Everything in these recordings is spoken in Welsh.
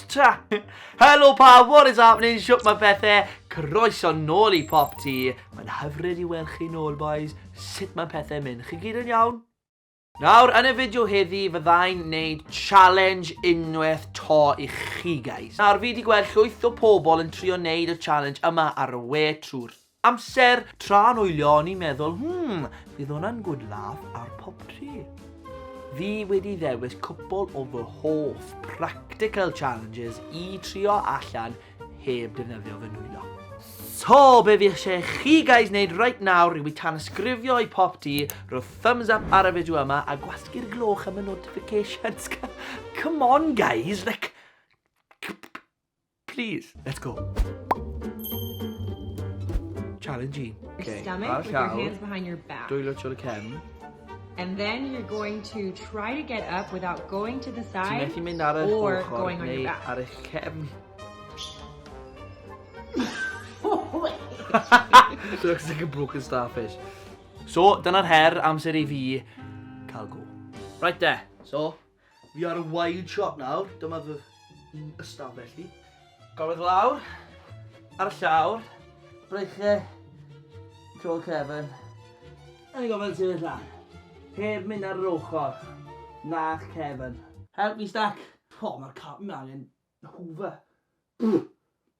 ta! Helo pa, what is happening? Siwp mae pethau, croeso nôl i pop ti. Mae'n hyfryd i weld chi nôl, boys. Sut mae pethau mynd? Chi gyd yn iawn? Nawr, yn y fideo heddi, fyddai'n neud challenge unwaith to i chi, guys. Nawr, fi di gweld llwyth o pobl yn trio neud y challenge yma ar y we trwy'r amser, tra'n wylio, o'n i'n meddwl, hmm, fydd hwnna'n good laugh ar pop tri. Fi wedi ddewis cwpl o fy hoff practical challenges i trio allan heb defnyddio fy nwylo. So, be fi eisiau chi guys wneud right nawr yw i tanysgrifio i pop di, rho thumbs up ar y fideo yma a gwasgu'r gloch am y notifications. Come on guys, like, please, let's go. Challenge i. Okay, ar llaw, dwylo tro y cefn. And then you're going to try to get up without going to the side. Ti'n methu mynd ar eich ochr neu ar eich cefn. so it's like a broken starfish. So, dyna'r her amser i fi cael go. Right de, so, Fi ar y wide shot nawr, dyma fy un ystafell i. Golyg lawr, ar y llawr, breichiau, tro cefn. A ni'n gofyn sefyll lan, heb mynd ar yr ochr, na'ch cefn. Help me stack. O, mae'r carpet 'ma angen hoover.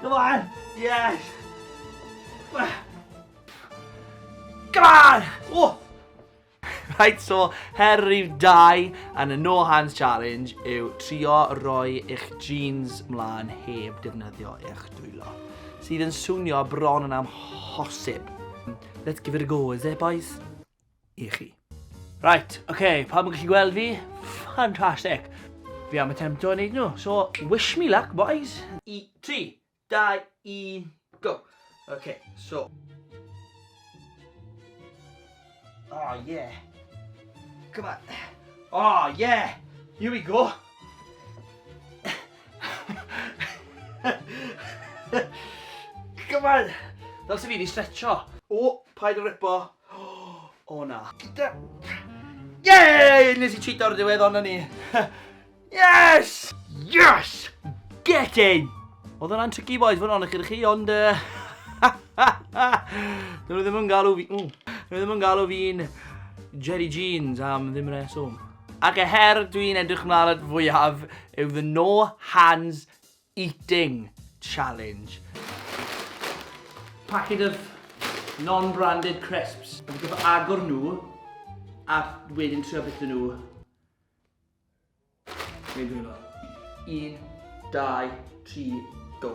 Come on! Yes! Come on! Oh! Right, so, her rhyw dau yn y no hands challenge yw trio roi eich jeans mlaen heb defnyddio eich dwylo. Sydd yn swnio bron yn amhosib. Let's give it a go, is it boys? i chi. Right, oce, okay, pawb yn gallu gweld fi? Fantastic! Fi am y temto yn neud nhw, so wish me luck, boys! I, tri, dau, un, go! Oce, okay, so... Oh, yeah! Come on! Oh, yeah! Here we go! Come on! Fel sy'n fi wedi stretcho. O, paid o ripo. O na. Gyda... Yay! Nes i cheat o'r diwedd, ond ni. yes! Yes! Get in! Oedd hwnna'n tricky boys, fod hwnna'n eich chi, ond... Dyn nhw ddim yn galw fi... Dyn nhw ddim yn galw fi'n Jerry Jeans am ddim reswm. Ac y her dwi'n edrych mlaen at fwyaf yw the no hands Eating challenge. Packet of non-branded crisps. Fi'n gorfod agor nhw a wedyn trio byta nhw. Neu dwi fel. Un, dau, tri, go.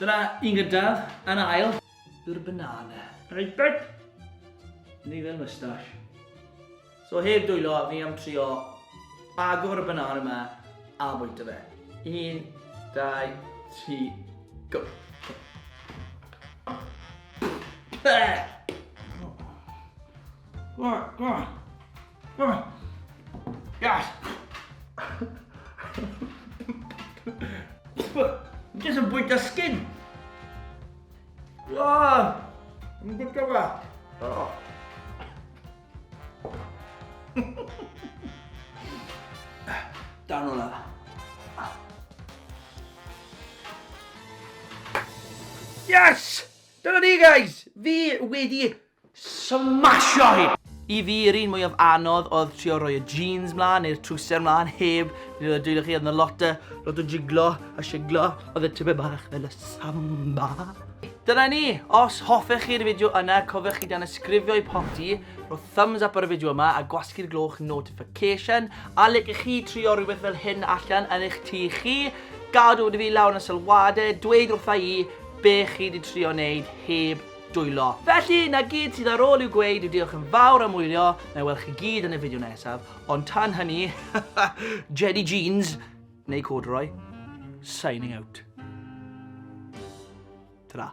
Dyna un gyntaf, yn ail. Yw'r banana. Reit bert! Ni fel moustache. So heb dwylo, fi am trio agor y banana yma a bwyta fe. Un, dau, tri, go! Pah! Go, go! Yes! Jyst yn bwyta skin! Wow! Yn gwybod gyfa? Oh. Down on that. Yes! Dyna ni, guys! Fi wedi Smasho hi! I fi, yr un mwyaf anodd oedd trio rhoi y jeans mlan, neu'r trwser mlan, heb, nid oedd y dwylo chi, oedd na lot o, lot o jiglo a shiglo, oedd e tipyn bach fel y samba. Dyna ni! Os hoffech chi'r fideo yna, cofiwch i danysgrifio i Popty, rho thumbs up ar y fideo yma a gwasgu'r gloch notification, a licech chi trio rhywbeth fel hyn allan yn eich tŷ chi? Gad wybod i fi lawr yn y sylwadau, dweud wrtha i be chi 'di trio neud heb dwylo. Felly, 'na gyd sydd ar ôl i'w gweud yw diolch yn fawr am wylio, na i weld chi gyd yn y fideo nesaf, ond tan hynny, Jedi Jeans, neu Corduroy, signing out. Ta-ra.